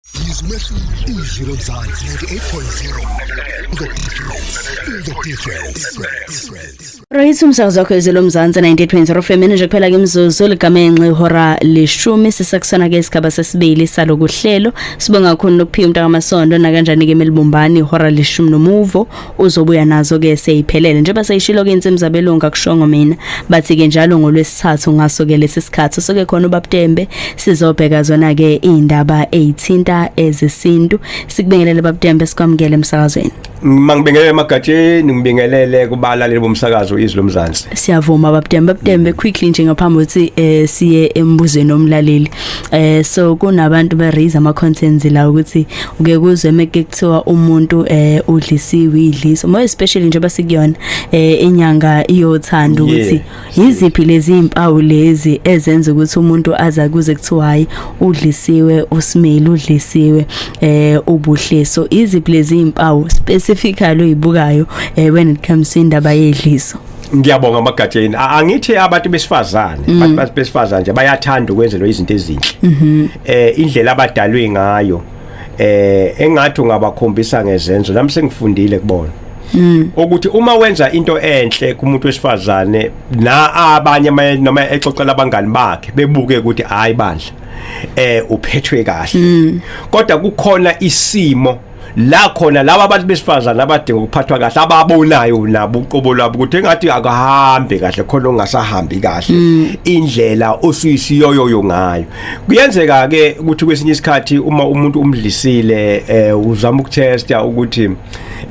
Yizo umehluko izwi lomzansi 98.0 The difference The difference Right umsakazo wakho izwi lomzansi 98.0 FM nje kuphela ke mzuzu ligamenxe ihora leshumi sisakusona ke isigaba sesibili salokuhlelo sibonga kakhulu nokuphiwa umntaka masondo nakanjani ke melibumbani ihora leshumi nomuvo uzobuya nazo ke seyiphelele njengoba seyishilo ke insimu zabelungu akushongo mina bathi ke njalo ngolwesithathu ngaso ke lesi sikhathi soke khona ubabtembe sizobheka zona ke indaba ezithinta ezesintu sikubingelele babtembe sikwamukele emsakazweni mangibingelele emagatsheni ngibingelele kubalaleli bomsakazo izwi lomzansi siyavuma babtembe babtembe quickly nje ngaphambi ukuthi eh, siye embuzweni omlaleli eh so kunabantu ba raise ama contents la ukuthi uke kuzwe meke kuthiwa umuntu eh udlisiwe idliso more especially njengoba sikuyona eh inyanga iyothanda ukuthi yiziphi lezi impawu lezi ezenza ukuthi umuntu aza kuze kuthiwa hayi udlisiwe usimile udlisiwe eh ubuhleso iziphi lezi impawu specifically uyibukayo eh when it comes to indaba yedliso ngiyabonga amagatsheni angithi abantu besifazane mm. abantu besifazane nje bayathanda ukwenzelwa izinto ezinhle mm-hmm. eh indlela abadalwe ngayo eh engathi ungabakhombisa ngezenzo nami sengifundile kubona Mm. ukuthi uma wenza into enhle kumuntu wesifazane na abanye noma exoxela abangani bakhe bebuke ukuthi hayi bandla eh uphethwe kahle mm. kodwa kukhona isimo la khona laba abantu besifazana abadinga ukuphathwa kahle ababonayo nabo uqobo lwabo ukuthi engathi akahambe kahle khona ongasahambi kahle mm. indlela osuyisiyoyoyo ngayo kuyenzeka ke ukuthi kwesinye isikhathi uma umuntu umdlisile eh, uzama ukutesta ukuthi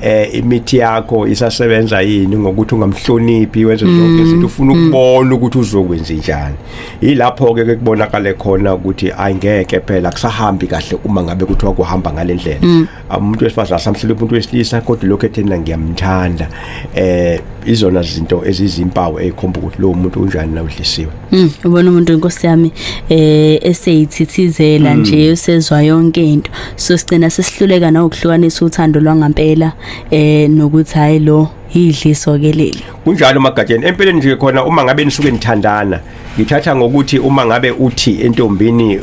eh imithi yakho isasebenza yini ngokuthi ungamhloniphi wenze zonke mm. izinto ufuna mm. ukubona ukuthi uzokwenza njani yilapho ke kubonakale khona ukuthi ayingeke phela kusahambi kahle uma ngabe kuthiwa kuhamba ngalendlela mm. umuntu wesifazana samhlele umuntu wesilisa kodwa lokho ethena ngiyamthanda eh izona zinto ezizimpawu ezikhomba ukuthi lo muntu unjani na udlisiwe mm, ubona umuntu inkosi yami eh eseyithithizela mm. nje usezwa yonke into so sigcina sesihluleka na ukuhlukanisa uthando lwangampela eh nokuthi hayi lo yidliso ke leli kunjalo magatsheni empeleni nje khona uma ngabe nisuke nithandana ngithatha ngokuthi uma ngabe uthi entombini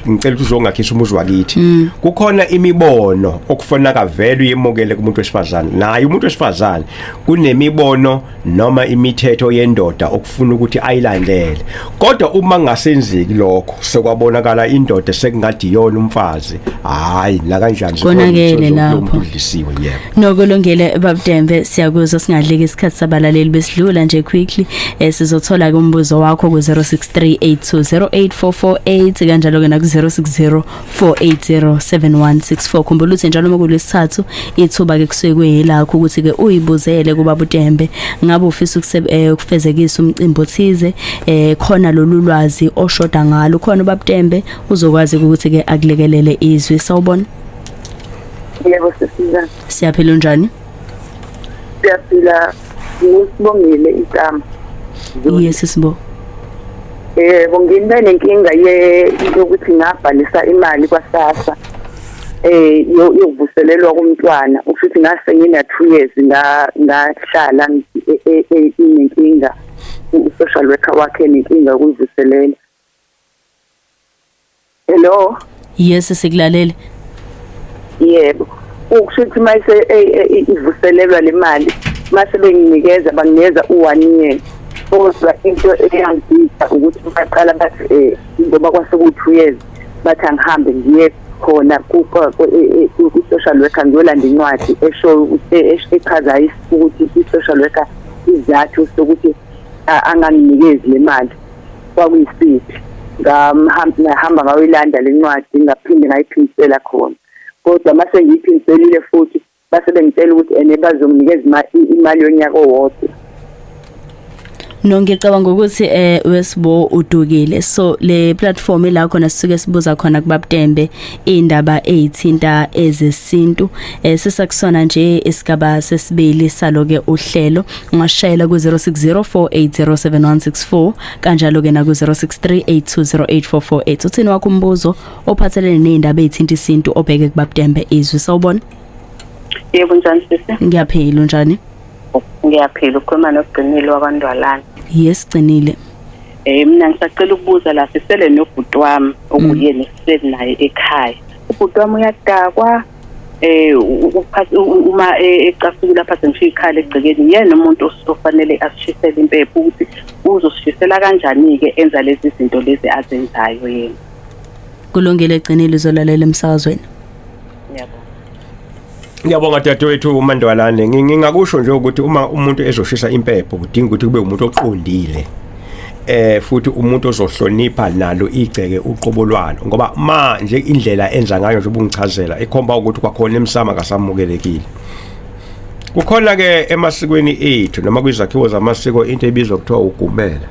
ngicela ukuthi uzongakhisa umuzi wakithi mm. kukhona imibono okufona kavele uyemukele kumuntu wesifazane naye umuntu wesifazane kunemibono noma imithetho yendoda okufuna ukuthi ayilandele kodwa uma ngasenziki lokho sekwabonakala indoda sekungadi yona umfazi hayi la kanjani konakele lapho yebo Nokulungile babudembe siyakuzwa singadleki isikhathi sabalaleli besidlula nje quickly eh, sizothola ke umbuzo wakho ku 0638208448 kanjalo ke na ku 0604807164 khumbula ukuthi njalo uma kulesithathu ithuba ke kusuke kuyilakho ukuthi ke uyibuzele kuba budembe ngabe ufisa eh, ukufezekisa umcimbi othize eh khona lolu lwazi oshoda ngalo khona ubabudembe uzokwazi ukuthi ke akulekelele izwi sawubona Yebo sisiza. Siyaphila unjani? Siyaphila usibongile igama. Yes sisibo. Yebo ngibe nenkinga ye yokuthi ngabhalisa imali kwaSASSA. eh yokuvuselelwa komntwana ufuthi ngase ngina 2 years nga ngahlala e, e, e, inenkinga u social worker wakhe nenkinga ukuvuselela Hello. Yes sikulalele. Yebo. Ukusho ukuthi mayise e, e, e, ivuselelwa le mali mase benginikeza banginikeza u1 year. Kodwa into eyangisa ukuthi baqala bathi eh ngoba kwasekuthi 2 years bathi angihambe ngiye khona ku social worker ngiyolanda incwadi esho echaza ukuthi i social worker izathu sokuthi anganginikezi le mali kwakuyisiphi ngahamba ngawuyilanda le ncwadi ngaphinde ngayiphindisela khona kodwa uma sengiyiphindiselile futhi base bengitshela ukuthi ene bazonginikeza imali yonyaka owodwa No ngicabanga ukuthi eh wesibo udukile so le platform la khona sisuke sibuza khona kubabutembe indaba ezithinta ezesintu eh sisakusona nje isigaba sesibili saloke uhlelo ungashayela ku-0604807164 kanjalo-ke naku-0638208448 uthini wakho umbuzo ophathelene ney'ndaba ey'thinta isintu obheke kubabudembe izwi sawubona yebo njani sisi ngiyaphila unjani ngiyaphila ukhuluma nogcinile wakwandwalana yes gcinile eh mina ngisacela ukubuza la sisele nobhuti wami okuye mm. nesiseli naye ekhaya ubhuti wami uyadakwa eh uma e, ecasuka lapha sengishiya ikhala egcekeni yena umuntu ofanele asishisele impepho ukuthi uzosishisela kanjani ke enza lezi zinto lezi azenzayo yena kulungile gcinile uzolalela emsakazweni Ngiyabonga dadewethu uMandwalane ngingakusho nje ukuthi uma umuntu ezoshisa impepho kudinga ukuthi kube umuntu oqondile eh futhi umuntu ozohlonipha nalo igceke uqobo lwalo ngoba ma nje indlela enza ngayo nje ubungichazela ikhomba ukuthi kwakhona emsama kasamukelekile kukhona ke emasikweni ethu noma kwizakhiwo zamasiko into ebizwa kuthiwa ugumela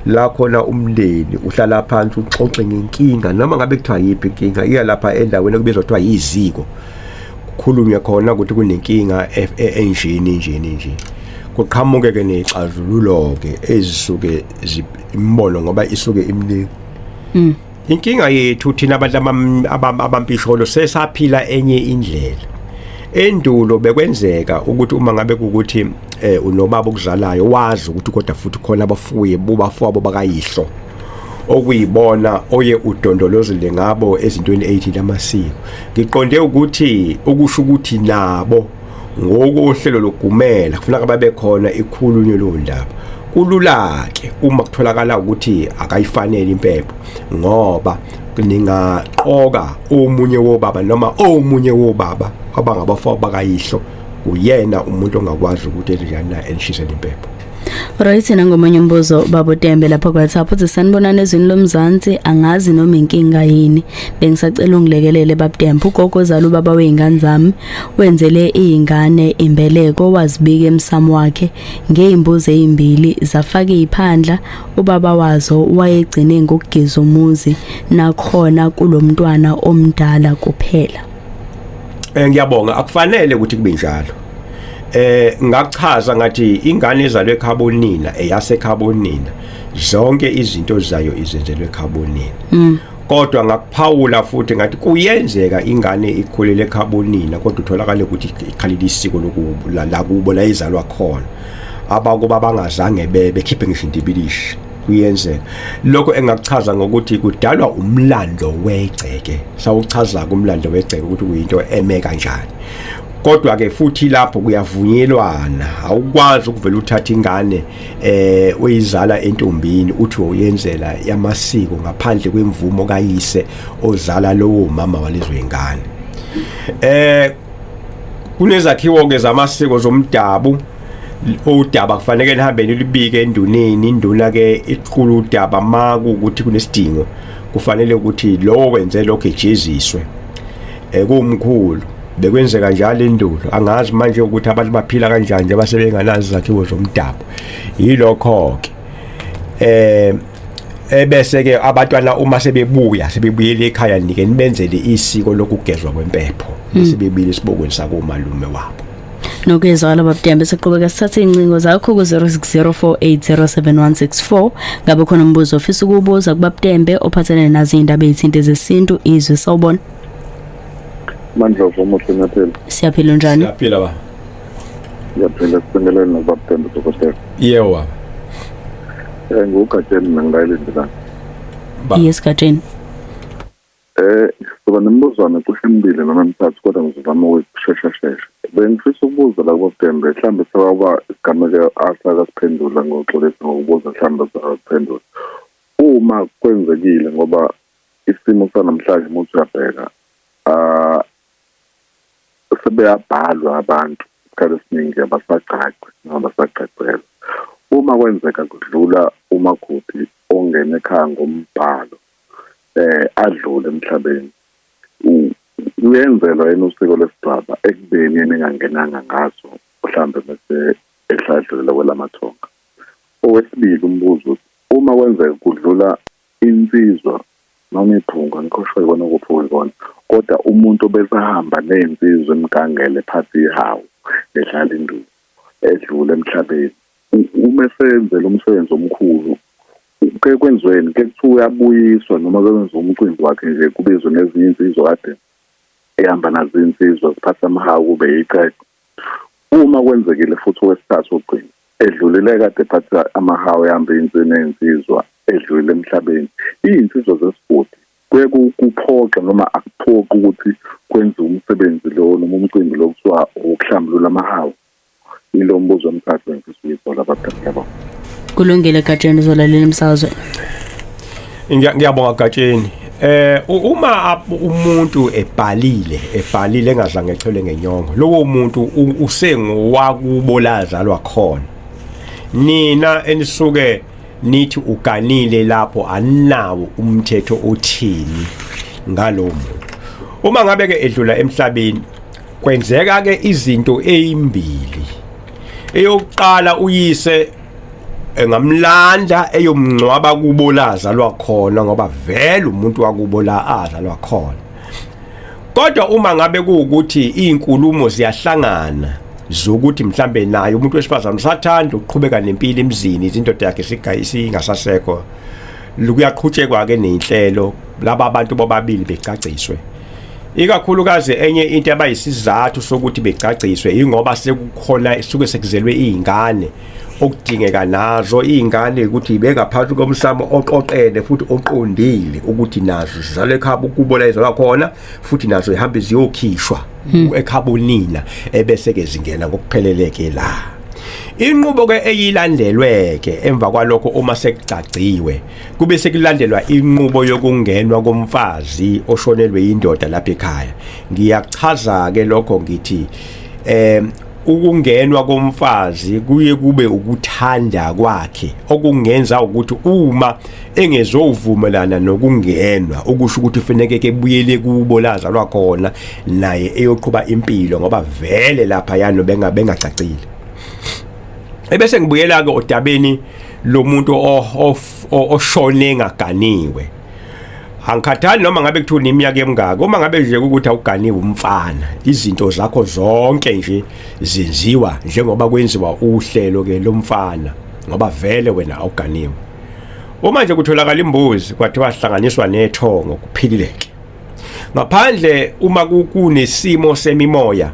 la khona umndeni uhlala phansi uxoxe ngenkinga noma ngabe kuthiwa yiphi inkinga iya lapha endaweni kubizwa kuthiwa yiziko kukhulunywe khona ukuthi kunenkinga e-, e-, enjini njini njini kuqhamuke ke nexazululo ke ezisuke imbono ngoba isuke imningi mm. inkinga yethu thina abantu abampisholo sesaphila enye indlela endulo bekwenzeka ukuthi uma ngabe ukuthi eh unobaba okuzalayo wazi ukuthi kodwa futhi khona abafuye bobafowabo bakayihlo okuyibona oye udondolozile ngabo ezintweni 80 lamasiko ngiqonde ukuthi ukusho ukuthi nabo Ngokohlelo logumela kufuneka babe khona ikhulunywe leyo ndaba. Kulula-ke uma kutholakala ukuthi akayifanele impepho ngoba ningaqoka omunye wobaba noma omunye wobaba abangabafo bakayihlo uyena umuntu ongakwazi ukuthi enjani na elishisele impepho Right nangomunye umbuzo babo Tembe lapha kwaThapha uthi sanibonana ezweni lomzansi angazi noma inkinga yini bengisacela ungilekelele babTembe ugogo zala ubaba weingane zami wenzele izingane imbeleko wazibika emsamo wakhe ngeimbuzo ezimbili zafaka iphandla ubaba wazo wayegcine ngokugiza umuzi nakhona kulomntwana omdala kuphela Eh ngiyabonga akufanele ukuthi kube njalo. Eh ngakuchaza ngathi ingane ezalwe ekhabonina eyase ekhabonina zonke izinto zayo izenzelwe ekhabonina. Mm. kodwa ngakuphawula futhi ngathi kuyenzeka ingane ikhulele ekhabonina kodwa utholakale ukuthi ikhalile isiko lokubo la kubo la izalwa khona abakuba bangazange bebe khiphe ngisho intibilishi kuyenzeka lokho engakuchaza ngokuthi kudalwa umlando wegceke sawuchaza kumlando wegceke ukuthi kuyinto eme kanjani kodwa ke futhi lapho kuyavunyelwana awukwazi ukuvela uthatha ingane eh uyizala entombini uthi uyenzela yamasiko ngaphandle kwemvumo kayise ozala lowo mama walezo ingane eh kunezakhiwo ke zamasiko zomdabu udaba kufanele lihambe nilibike enduneni induna ke iqhula udaba maku ukuthi kunesidingo kufanele ukuthi lowo wenze lokho ejeziswe ekumkhulu eh, bekwenzeka njalo endulo angazi manje ukuthi abantu baphila kanjani nje basebenganazi zakhiwo zomdabu yilokho ke eh ebese ke abantwana uma sebebuya sebebuyele ekhaya nike nibenzele isiko lokugezwa kwempepho mm. sebebile sibokweni sakomalume wabo nokezwa wala babudembe siqhubeka sithathe iy'ncingo zakho ku-06048071164 ngabe khona umbuzo ofisa ukuwubuza kubabudembe ophathelene nazo iy'ndaba ey'thinte zesintu izwe sawubona mandlovu omuhle nyaphela siyaphila unjani siyaphila ba ngiyaphila sibingelele nobabudembe dokotela yebo baba um eh, ngugatsheni mina ngilayelindilana yes gatsheni Eh, kuba nembuzwana kusho imibili noma emithathu kodwa ngizozama ukushesha shesha. Bengifisa ukubuza la kuDembe, mhlawumbe sewaba isigameko asakasiphendula ngoxolisa ngokubuza mhlawumbe sakaphendula. Uma kwenzekile ngoba isimo sanamhlanje umuntu uyabheka ah sebeyabhalwa abantu isikhathi esiningi abasagcagci noma basagcagcelwa. Uma kwenzeka kudlula umakoti ongena ekhaya ngombhalo eh adlule emhlabeni uyenzelwa yena usiko lesigcaba ekubeni yena engangenanga ngaso mhlawumbe bese esadlulela kwelamathonga owesibili umbuzo uma kwenzeka kudlula insizwa noma iphunga ngikhosho ikona kuphi uyibona kodwa umuntu obesahamba nezinsizwa emgangele phansi ihawu edlala induku edlule emhlabeni uma esenzela umsebenzi omkhulu ke kwenziweni ke kuthiwa uyabuyiswa noma kwenza umcimbi wakhe nje kubizwe nezinye insizwa kade ehamba nazo insizwa ziphatha amahawu kube yiqede uma kwenzekile futhi owesithathu ogcina edlulile kade phatha amahawu ehamba insini ey'nsizwa edlulile emhlabeni iy'nsizwa zesigodi kuye kuphoxe noma akuphoqi ukuthi kwenziwe umsebenzi lo noma umcimbi lo kuthiwa wokuhlambulula amahawu Ilo mbuzo mkhathi ngifisa uyisola abadala yabo. Kulungile Gatsheni uzolalela umsazwe. Ngiya- ngiyabonga gatsheni eh u- uma ap- umuntu ebhalile ebhalile engadlanga echele ngenyongo lowo muntu u- usengowakubo lazalwa khona nina enisuke nithi uganile lapho aninawo umthetho othini ngalowo muntu uma ngabe ke edlula emhlabeni kwenzeka ke izinto ezimbili eyokuqala uyise engamlanda eyomncwaba kubo la azalwa khona ngoba vele umuntu wakubo la azalwa khona kodwa uma ngabe kuwukuthi izinkulumo ziyahlangana zokuthi mhlambe naye umuntu wesifazane usathanda ukuqhubeka nempilo emzini izindoda yakhe singasasekho lukuyaqhutshekwa ke nenhlelo laba abantu bobabili becaciswe Ikakhulukazi enye into abayisizathu sokuthi begcagciswe ingoba sekukhona isuke sekuzelwe izingane okudingeka nazo izingane ukuthi bengaphansi komsamo oqoqene futhi oqondile ukuthi nazo zizalwe ekhaba ukubo la izalwa khona futhi nazo ihambe ziyokhishwa hmm. ekhaba unina ebese ke zingena ngokupheleleke la inqubo ke eyilandelwe ke emva kwalokho uma sekugcagciwe kube sekulandelwa inqubo yokungenwa komfazi oshonelwe indoda lapha ekhaya ngiyachaza ke lokho ngithi eh ukungenwa komfazi kuye kube ukuthanda kwakhe okungenza ukuthi uma engezovumelana nokungenwa ukusho ukuthi ufaneke kebuyele kubo lazalwa khona naye eyoqhuba impilo ngoba vele lapha yano benga bengacacile ebese ngibuyela ke odabeni lomuntu oshone ngaganiwe angikhathali noma ngabe kuthiwa neminyaka emingaka uma ngabe nje ukuthi awuganiwe umfana izinto zakho zonke nje zenziwa njengoba kwenziwa uhlelo ke lomfana ngoba vele wena awuganiwe uma nje kutholakala imbuzi kwathiwa hlanganiswa nethongo kuphilileke ngaphandle uma kunesimo semimoya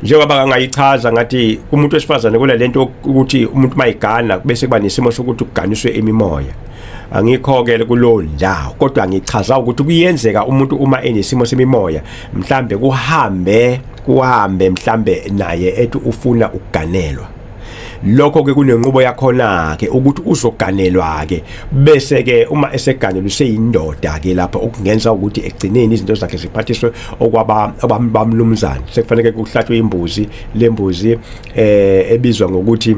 njengoba kangayichaza ngathi kumuntu wesifazane kule lento ukuthi umuntu mayigana bese kuba nesimo sokuthi kuganiswe imimoya angikhokele kulowo ndawo kodwa ngichaza ukuthi kuyenzeka umuntu uma enesimo semimoya mhlambe kuhambe kuhambe mhlambe naye ethi ufuna ukuganelwa lokho ke kunenqubo yakhona ke ukuthi uzoganelwa ke bese ke uma eseganelwa useyindoda ke lapha okungenza ukuthi egcineni izinto zakhe ziphathiswe okwaba abamlumzana sekufanele kuhlatshwe imbuzi lembuzi eh ebizwa ngokuthi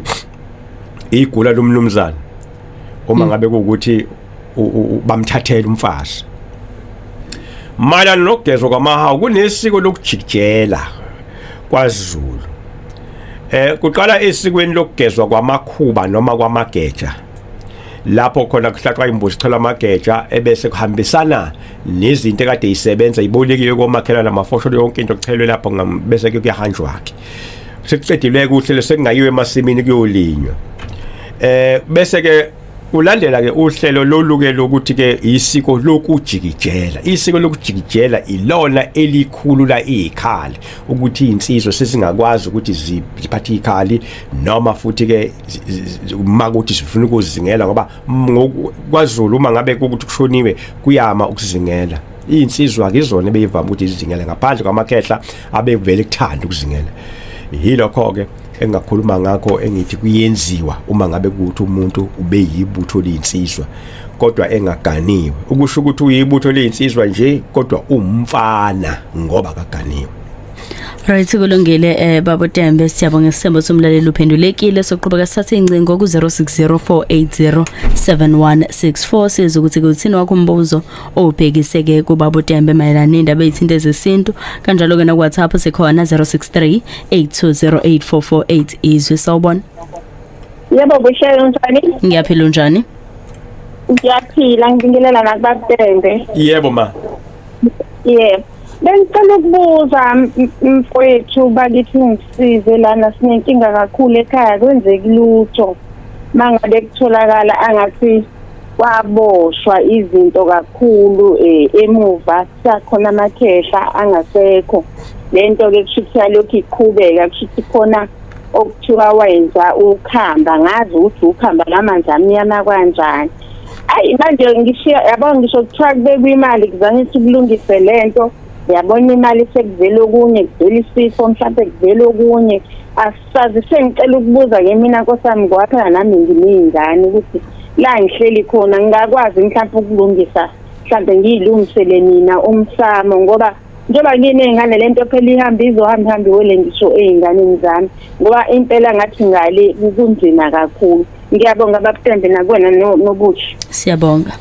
igula lomlumzana uma ngabe kuukuthi bamthathela umfazi mayelana nokugezwa kwamahawu kunesiko lokujikijela kwaZulu eh kuqala esikweni lokugezwa kwamakhuba noma kwamageja lapho khona kuhlaxwa imbuzi ithola amageja ebese kuhambisana nezinto ekade isebenza ibolekiwe komakhelana amafosho yonke into kuchelwe lapho bese kuyahanjwa ke sekucedilwe kuhle lesekungayiwe emasimini kuyolinywa eh bese ke Ulandela ke uhlelo loluke lokuthi ke isiko lokujikijela. Isiko lokujikijela ilona elikhulu la ikhali ukuthi insizwa sesingakwazi ukuthi ziphathe ikhali noma futhi ke makuthi sifuna ukuzingela ngoba ngokwaZulu uma ngabe ukuthi kushoniwe kuyama ukuzingela. Insizwa ke izona beyivama ukuthi izingele ngaphandle kwamakhehla abevele kuthanda ukuzingela. Yilokho ke engakhuluma ngakho engithi kuyenziwa uma ngabe kuthi umuntu ube yibutho linsizwa kodwa engaganiwe ukusho ukuthi uyibutho linsizwa nje kodwa umfana ngoba kaganiwe Right kulungile eh babo Tembe siyabonga isembo somlaleli uphendulekile soqhubeka sithathe incingo ku 0604807164 sizokuthi kuthini wakho umbuzo obhekiseke kubaba uTembe mayelana nendaba ezithinta ezesintu kanjalo ke na WhatsApp sikhona 063 8208448 izwi sawubona Yebo kuhlelo njani Ngiyaphila unjani Ngiyaphila ngibingelela nakubabende Yebo ma Yebo Bengicela ukubuza mfowethu bakithi ngisize lana sinenkinga kakhulu ekhaya kwenzeki lutho mangabe kutholakala angathi kwaboshwa izinto kakhulu eh, emuva sakhona amakhehla angasekho lento ke kusho ukuthi yalokhu iqhubeka kusho ukuthi khona okuthiwa wenza ukhamba ngazi ukuthi ukhamba lamanzi amnyama kanjani ayi manje ngishiya yabo ngisho kuthiwa kubekwa imali kuzange ukuthi kulungise lento yabona imali sekuvela okunye kuvela isifo mhlawumbe kuvela okunye Sazise ngicela ukubuza ke mina nkosami ngoba phela nami ngineyingane ukuthi la ngihleli khona ngingakwazi mhlawumbe ukulungisa mhlawumbe ngiyilungisele mina umsamo ngoba njengoba ngineyingane lento phela ihamba izohamba ihambe iwele ngisho eyinganeni zami ngoba impela ngathi ngale kunzima kakhulu ngiyabonga babutembe nakwena no- nobuthi siyabonga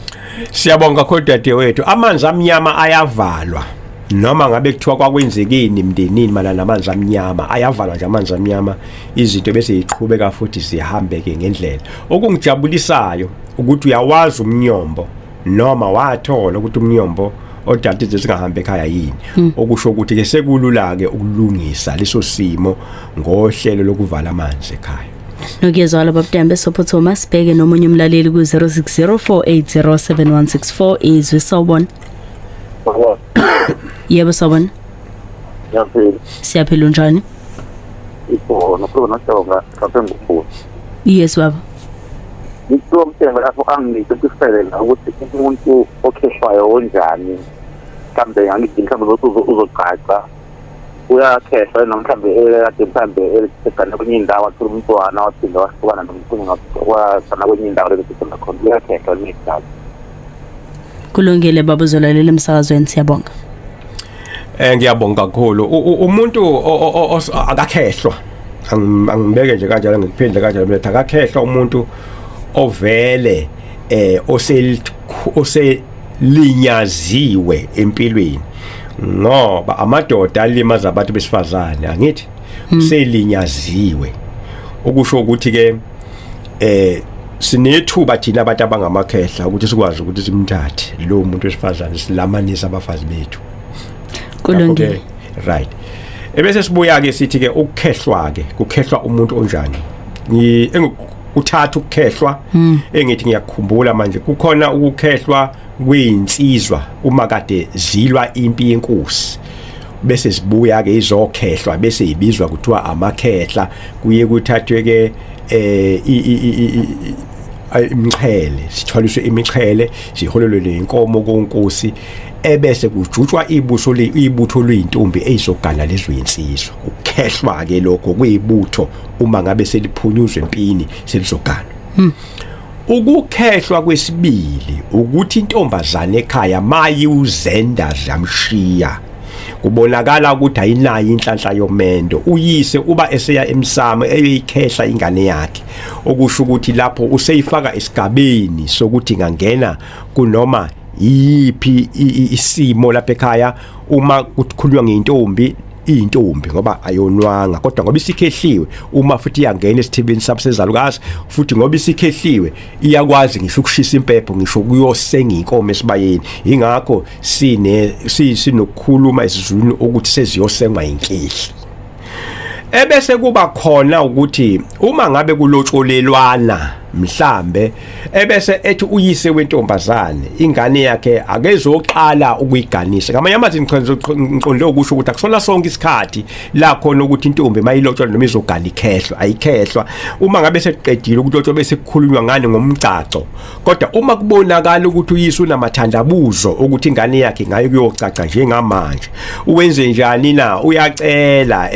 Siyabonga kakhulu dadewethu. Amanzi amnyama ayavalwa. Noma ngabe kuthiwa kwakwenzekeni emndenini mana namanzi amnyama ayavalwa nje amanzi amnyama izinto bese ziqhubeka futhi zihambe ke ngendlela. Okungijabulisayo ukuthi uyawazi umnyombo noma wathola ukuthi umnyombo odadide singahambe ekhaya yini okusho ukuthi ke sekulula ke ukulungisa leso simo ngohlelo lokuvala amanzi ekhaya. nokuyezwala babudembe sophothoma sibheke nomunye umlaleli ku-0604807164 izwi sawubona yebo sawubona siyaphila siyaphila unjani ikhona khona nohlonga lapha engikubuza yes baba ngicela umthenga lapho angingise kusifele la ukuthi umuntu okhishwayo onjani mhlawumbe angithi mhlawumbe uzogqaqa uyakhehla noma mhlawumbe ekade mhlawumbe egane kwenye indawo athola umntwana waphinde wahlukana nomkhulu wasana kwenye indawo lebesekhona khona uyakhehla kwenye indawo kulungile baba uzolalela emsakazweni siyabonga eh ngiyabonga kakhulu umuntu akakhehlwa angibeke nje kanjalo ngikuphindle kanjalo mletha akakhehlwa umuntu ovele eh oselithu oselinyaziwe empilweni ngoba amadoda alimaza abantu besifazane angithi hmm. selinyaziwe okusho ukuthi ke eh sinethuba thina abantu abangamakhehla ukuthi sikwazi ukuthi simthathe lo muntu wesifazane silamanisa abafazi bethu kulungile right ebese sibuya ke sithi ke ukukhehlwa ke kukhehlwa umuntu onjani kuthatha ukukhehlwa hmm. engithi ngiyakukhumbula manje kukhona ukukhehlwa kwezinsizwa uma kade zilwa impi yenkosi bese sibuya ke izokhehlwa bese ibizwa kuthiwa amakhehla kuye kuthathwe ke eh imixhele sithwaliswe imixhele siholelwe lenkomo konkosi ebese kujutshwa ibuso ibutho lweintombi ezogana lezwe insizwa ukukhehlwa ke lokho kuyibutho uma ngabe seliphunyuzwe empini selizogana hmm. ukukhehlwa kwesibili ukuthi intombazane ekhaya mayi uzenda zamshiya kubonakala ukuthi ayinayo inhlanhla yomendo uyise uba eseya emsamo eyoyikhehla ingane yakhe okusho ukuthi lapho useyifaka esigabeni sokuthi ngangena kunoma iyiphi isimo lapha ekhaya uma kukhulunywa ngeintombi iyintombi ngoba ayonwanga kodwa ngoba isikhehliwe uma futhi iyangena esithibeni sabusezalukazi futhi ngoba isikhehliwe iyakwazi ngisho ukushisa impepho ngisho kuyosenga inkomo esibayeni ingakho sine sinokukhuluma isizulu ukuthi seziyosengwa inkehli ebese kuba khona ukuthi uma ngabe kulotsholelwana mhlambe ebese ethi uyise wentombazane ingane yakhe akezoqala ukuyiganisa ngamanye amazwi ngiqonde ukusho ukuthi akusona sonke isikhathi la khona ukuthi intombi mayilotsholwa noma izogala ikhehlwa ayikhehlwa uma ngabe sekuqedile ukulotsholwa bese kukhulunywa ngani ngomgcagco kodwa uma kubonakala ukuthi uyise unamathandabuzo ukuthi ingane yakhe ngayo kuyocaca njengamanje uwenze njani na uyacela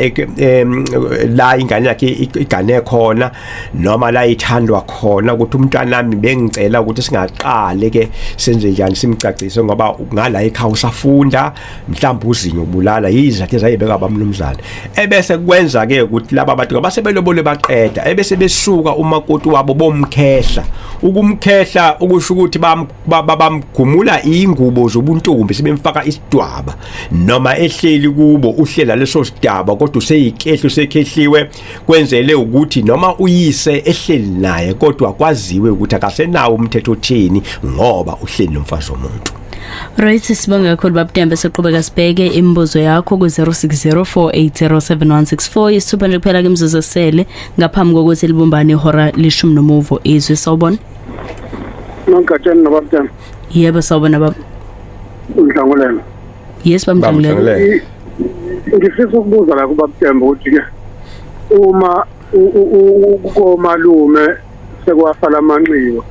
la ingane yakhe igane khona noma la ithandwa khona ukuthi umntanami bengicela ukuthi singaqale ke senze njani simcacise ngoba ngala ekhaya usafunda mhlawumbe uzinyo ubulala yizathu ezayibeka abamnumzane ebese kwenza ke ukuthi laba bantu abasebelobole baqeda ebese besuka umakoti wabo bomkhehla ukumkhehla ukusho ukuthi bamgumula ingubo zobuntombi sebemfaka isidwaba noma ehleli kubo uhlela leso sidaba kodwa useyikehlo sekhehliwe kwenzele ukuthi noma uyise ehleli naye kodwa kwaziwe ukuthi akasenawo umthetho othini ngoba uhleli nomfazi womuntu Right sibonga kakhulu babudembe soqhubeka sibheke imibuzo yakho ku 0604807164 isithupa nje kuphela ke imizuzu esele ngaphambi kokuthi libumbane ihora lishumi nomuvo izwi sawubona Nonke atsheni nababudembe Yebo sawubona baba Ngidlangulela yes bamjangulele ngifisa ukubuza la kubabtemba ukuthi ke uma komalume sekwafala amanxiwa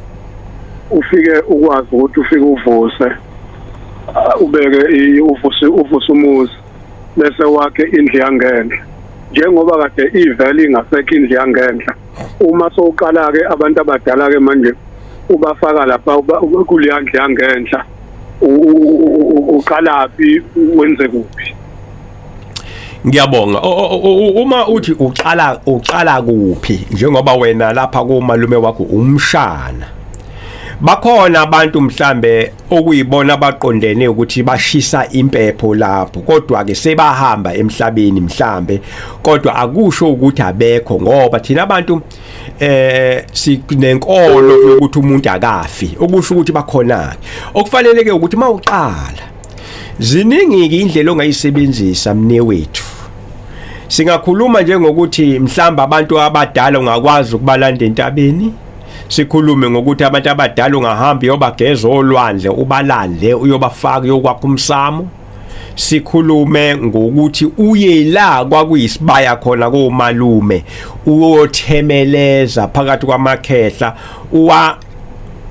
ufike ukwazi ukuthi ufike uvuse uh, ubeke uvuse uvuse umuzi bese wakhe indlu yangenhla njengoba kade ivele ingasekho indlu yangenhla uma sowuqala ke abantu abadala ke manje ubafaka lapha kuleya ndlu yangenhla uqalaphi wenze kuphi ngiyabonga uma uthi uqala uqala kuphi njengoba wena lapha kumalume wakho umshana bakhona abantu mhlambe okuyibona abaqondene ukuthi bashisa impepho lapho kodwa ke sebahamba emhlabeni mhlambe kodwa akusho ukuthi abekho ngoba thina abantu eh sinenkolo yokuthi umuntu akafi okusho ukuthi bakhona okufanele ke ukuthi mawuqala ziningi ke indlela ongayisebenzisa mne wethu singakhuluma nje ngokuthi mhlamba abantu abadala ungakwazi ukubalanda entabeni sikhulume ngokuthi abantu abadala ungahamba uyobageza olwandle ubalande uyobafaka uyokwakha umsamo sikhulume ngokuthi uye la kwakuyisibaya khona komalume uyothemeleza phakathi kwamakhehla uwa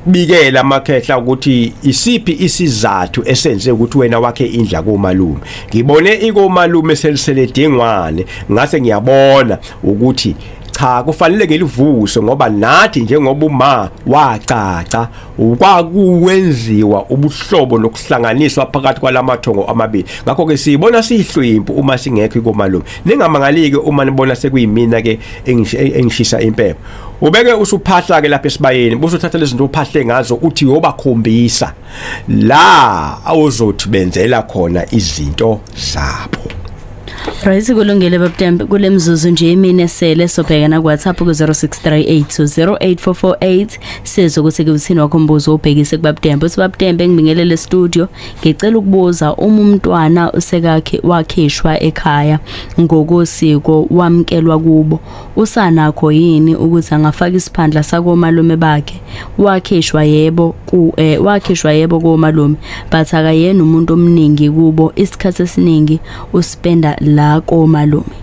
bikela amakhehla ukuthi isiphi isizathu esenze ukuthi wena wakhe indla komalume ngibone ikomalume selisele dingwane ngase ngiyabona ukuthi cha kufanele ngilivuse ngoba nathi njengoba uma wacaca kwakuwenziwa ubuhlobo lokuhlanganiswa phakathi kwalamathongo amabili ngakho ke siyibona siyihlwimpu uma singekho komalume ningamangalike uma nibona sekuyimina ke engishisa impepho ubeke usuphahla ke lapha esibayeni busuthatha lezinto uphahle ngazo uthi yobakhombisa la awuzothi benzela khona izinto zabo Right kulungile babudembe kulemzuzu nje imine sele sobhekana ku WhatsApp ku 0638208448 Sizwe ukuthi kuthini wakho mbuzo obhekise kubabutembe. Uthi babutembe ngibingelele studio. Ngicela ukubuza uma umntwana usekakhe wakhishwa ekhaya ngokosiko wamkelwa kubo. Usanakho yini ukuthi angafaka isiphandla sakomalume bakhe? Wakhishwa yebo ku eh, wakhishwa yebo komalume but akayena umuntu omningi kubo isikhathi esiningi uspenda la komalume.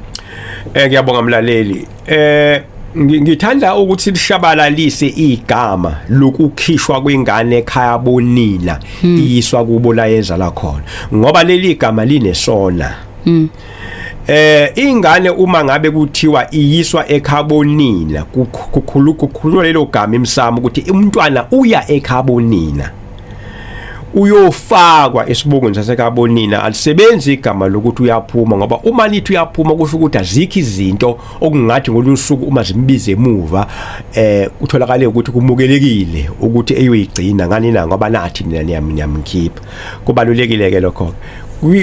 Eh ngiyabonga mlaleli. eh ngithanda ukuthi lishabalalise igama lokukhishwa kwengane ekhaya bonina hmm. iyiswa kubo la yenza la khona ngoba leli gama linesona hmm. eh ingane uma ngabe kuthiwa iyiswa ekhabonina kukhulu kukhulu lelo gama emsamo ukuthi umntwana uya ekhabonina uyofakwa esibongweni sasekabonina alisebenzi igama lokuthi uyaphuma ngoba uma nithi uyaphuma kusho ukuthi azikho izinto okungathi ngolusuku uma zimbize emuva eh utholakale ukuthi kumukelekile ukuthi eyoyigcina ngani na ngoba nathi nina niyamkhipha kubalulekile ke lokho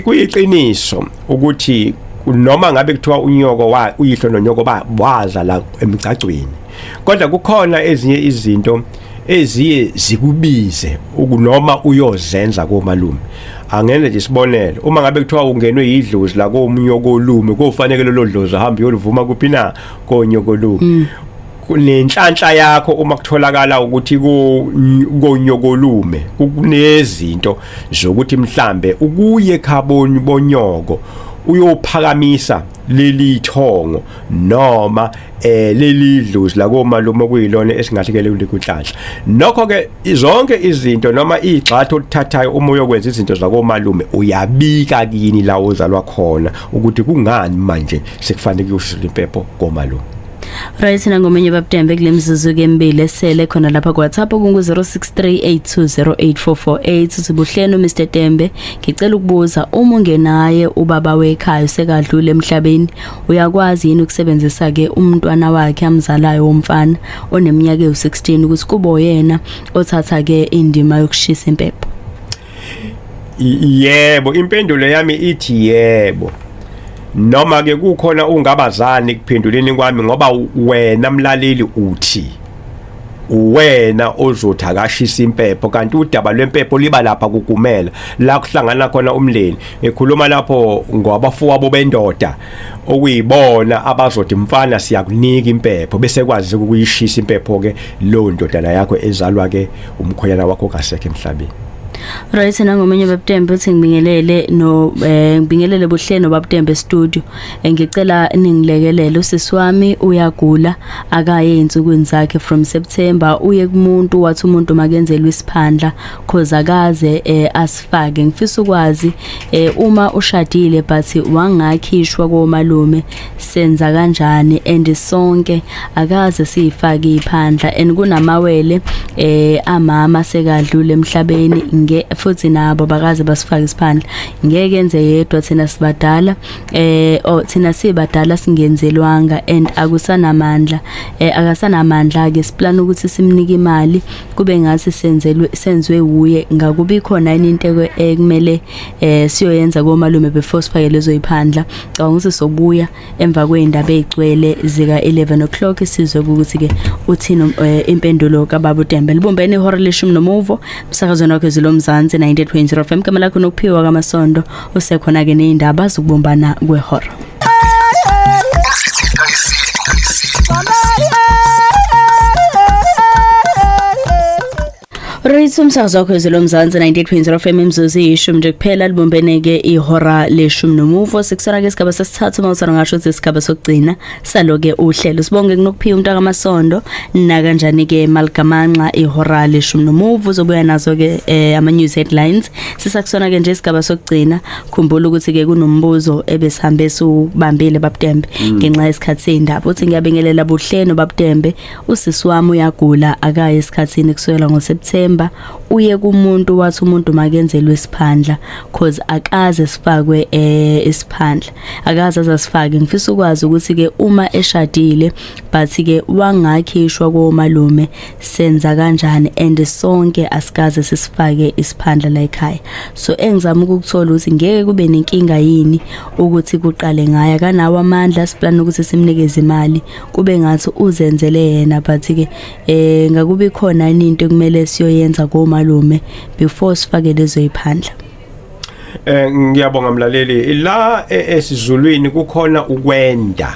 kuyiqiniso ukuthi noma ngabe kuthiwa unyoko wa uyihlo nonyoko ba waza la emgcagcweni kodwa kukhona ezinye izinto eziye zikubize ukunoma uyozenza komalume angenze nje isibonelo uma ngabe kuthiwa ungenwe yidlozi la komunye okolume kofanele lelo dlozi ahambe yolivuma kuphi na konye okolume mm. nenhlanhla yakho uma kutholakala ukuthi konyokolume kunezinto zokuthi mhlambe ukuye khaboni bonyoko uyophakamisa leli thongo noma eh leli idlozi la komalume okuyilona esingathi ke leli kunhlanhla nokho ke zonke izinto noma igxathu olithathayo uma uyokwenza izinto zakomalume uyabika kini la ozalwa khona ukuthi kungani manje sekufanele kuyosula impepho komalume Right sina ngomenye babudembe kulemizuzu ke embili esele khona lapha ku WhatsApp kungu 0638208448 sibuhleni Mr Tembe ngicela ukubuza uma ungenaye ubaba wekhaya usekadlule emhlabeni uyakwazi yini ukusebenzisa ke umntwana wakhe amzalayo womfana oneminyaka ewu16 ukuthi kubo yena othatha ke indima yokushisa impepho yebo impendulo yami ithi yebo noma ke kukhona ungabazani kuphenduleni kwami ngoba wena mlaleli uthi uwena ozothi akashisa impepho kanti udaba lwempepho liba lapha kugumela la kuhlangana khona umndeni ekhuluma lapho ngwabafowabo bendoda okuyibona abazothi mfana siyakunika impepho bese kwazi ukuyishisa impepho ke lo ndodana yakho ezalwa ke umkhonyana wakho kasekhe emhlabeni Right nangomunye babutembe uthi ngibingelele no eh, ngibingelele buhleni babutembe studio ngicela ningilekelele usisi wami uyagula akaye insukwini zakhe from September uye kumuntu wathi umuntu makenzelwe isiphandla cause akaze eh, asifake ngifisa ukwazi eh, uma ushadile but wangakhishwa komalume senza kanjani and sonke akaze siyifake iphandla and kunamawele eh amama sekadlule emhlabeni nge futhi nabo bakaze basifake isiphandla ngeke enze yedwa thina sibadala eh oh thina sibadala singenzelwanga and akusanamandla eh akasanamandla ke siplan ukuthi simnike imali kube ngathi senzelwe senzwe wuye ngakubi khona into ekumele eh siyoyenza komalume before sifake lezo iphandla cabanga ukuthi sobuya emva kwey'ndaba ey'gcwele zika-11 o'clock sizwe ukuthi-ke uthini um, eh, impendulo kababa utembe libumbene ihora leshumi nomuvo msakazweni wakho ezilomzansi 98.0 fm kama lakho nokuphiwa kamasondo usekhona-ke ney'ndaba zokubumbana kwehora Rayisa umsakazo wakho ezwe lomzansi 98.0 FM imzuzu iyishumi nje kuphela libumbeneke ihora leshumi nomuvo sikusona ke isigaba sesithathu uma usana ngasho ukuthi isigaba sokugcina saloke uhlelo sibonge kunokuphiwa umntaka amasondo nakanjani ke maligamanxa ihora leshumi nomuvo uzobuya nazo ke eh, ama news headlines sisakusona ke nje isigaba sokugcina khumbula ukuthi ke kunombuzo ebesihambe subambile babudembe mm. ngenxa yesikhathi sendaba uthi ngiyabingelela buhleno babudembe usisi wami uyagula akaye esikhathini kusukela ngoSeptember uye kumuntu wathi umuntu makenzelwe isiphandla cause akaze sifakwe eh isiphandla akaze azasifake ngifisa ukwazi ukuthi ke uma eshadile but ke wangakhishwa komalume senza kanjani and sonke asikaze sisifake isiphandla la ekhaya so engizama ukukuthola ukuthi ngeke kube nenkinga yini ukuthi kuqale ngaya kanawo amandla siplan ukuthi simnikeze imali kube ngathi uzenzele yena but ke eh ngakubi khona into ekumele siyoyenza komalume before sifake lezo iphandla eh ngiyabonga mlaleli la e, esizulwini kukhona ukwenda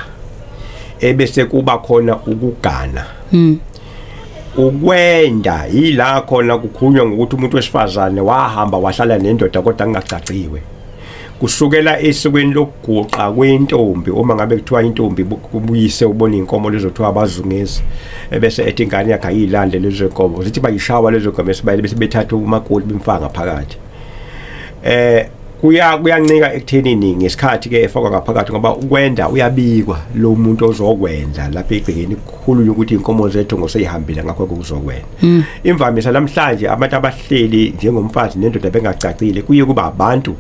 ebese kuba khona ukugana mm ukwenda yila khona kukhulunywa ngokuthi umuntu wesifazane wahamba wahlala nendoda kodwa kungagcaciwe kusukela esikweni lokuguqa kwentombi uma ngabe kuthiwa intombi kubuyise ubona inkomo lezothiwa abazungezi ebese ethi ingane yakhe ayilande lezo nkomo zithi bayishawa lezo nkomo esibayile bese bethatha umakoti bemfaka phakathi eh kuya kuyancika ekuthenini ngesikhathi ke efakwa ngaphakathi ngoba ukwenda uyabikwa lo muntu ozokwenza lapha egcekeni kukhulu ukuthi inkomo zethu ngoseyihambile ngakho kuzokwenda Hmm. imvamisa namhlanje abantu abahleli njengomfazi nendoda bengacacile kuye kuba abantu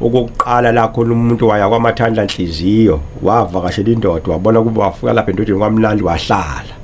okokuqala la khona umuntu waya kwamathandla nhliziyo wavakashela indoda wabona kuba wafika lapha endodeni kwamnandi wahlala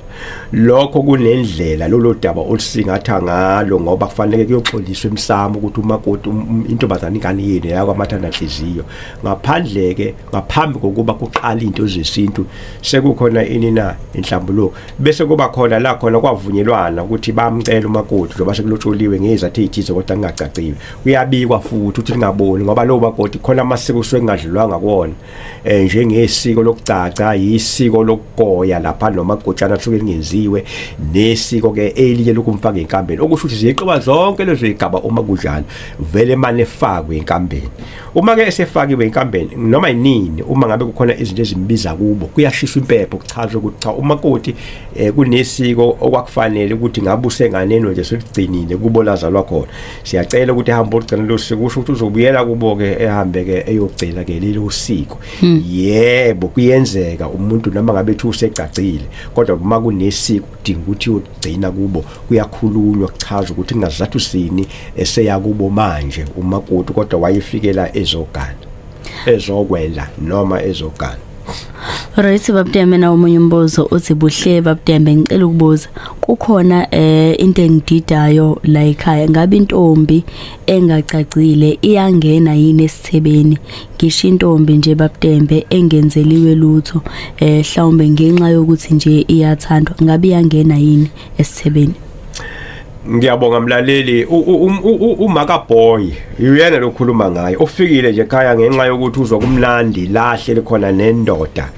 lokho kunendlela lolo daba olusingatha ngalo ngoba kufanele kuyoxoliswa emsamo ukuthi umakoti um, um, intombazane ingane yini yakwamathandla nhliziyo ngaphandle ke ngaphambi kokuba kuqala into zesintu sekukhona ini na inhlambuluko bese kuba khona la khona kwavunyelwana ukuthi bamcela umakoti njengoba sekulotsholiwe ngezathu ezithize kodwa ngingacacile uyabikwa futhi ukuthi lingaboni ngoba lowo makoti khona amasiko usuke kungadlulwanga kuwona eh njengesiko lokugcaca yisiko lokugoya lapha noma gotshana suke lingenziwe nesiko ke eliye lokumfaka enkambeni okusho ukuthi ziyixoba zonke lezo igaba uma kunjalo vele mane fakwe enkambeni uma ke esefakiwe inkampeni noma yinini uma ngabe kukhona izinto ezimbiza kubo kuyashiswa impepho kuchaza ukuthi cha umakoti eh, kunesiko okwakufanele ukuthi ngabe usenganeno nje seligcinile kubo lazalwa khona siyacela ukuthi ehambe ogcina lo siko kusho ukuthi uzobuyela kubo ke ehambe ke eyogcina ke lelo siko hmm. yebo kuyenzeka umuntu noma ngabe ethi usegcagcile kodwa uma kunesiko dinga ukuthi ugcina kubo kuyakhulunywa kuchaza ukuthi kungazathu sini eseya kubo manje umakoti kodwa wayefikela ezogana ezokwela noma ezogana Right babudeme na omunye umbuzo uthi buhle babudeme ngicela ukubuza kukhona eh into engididayo la ekhaya ngabe intombi engacacile iyangena yini esithebeni ngisho intombi nje babutembe engenzeliwe lutho eh hlawumbe ngenxa yokuthi nje iyathandwa ngabe iyangena yini esithebeni ngiyabonga mlaleli umaka boy uyena lokhuluma ngaye ufikile nje ekhaya ngenxa yokuthi uzwa kumlandi lahle likhona nendoda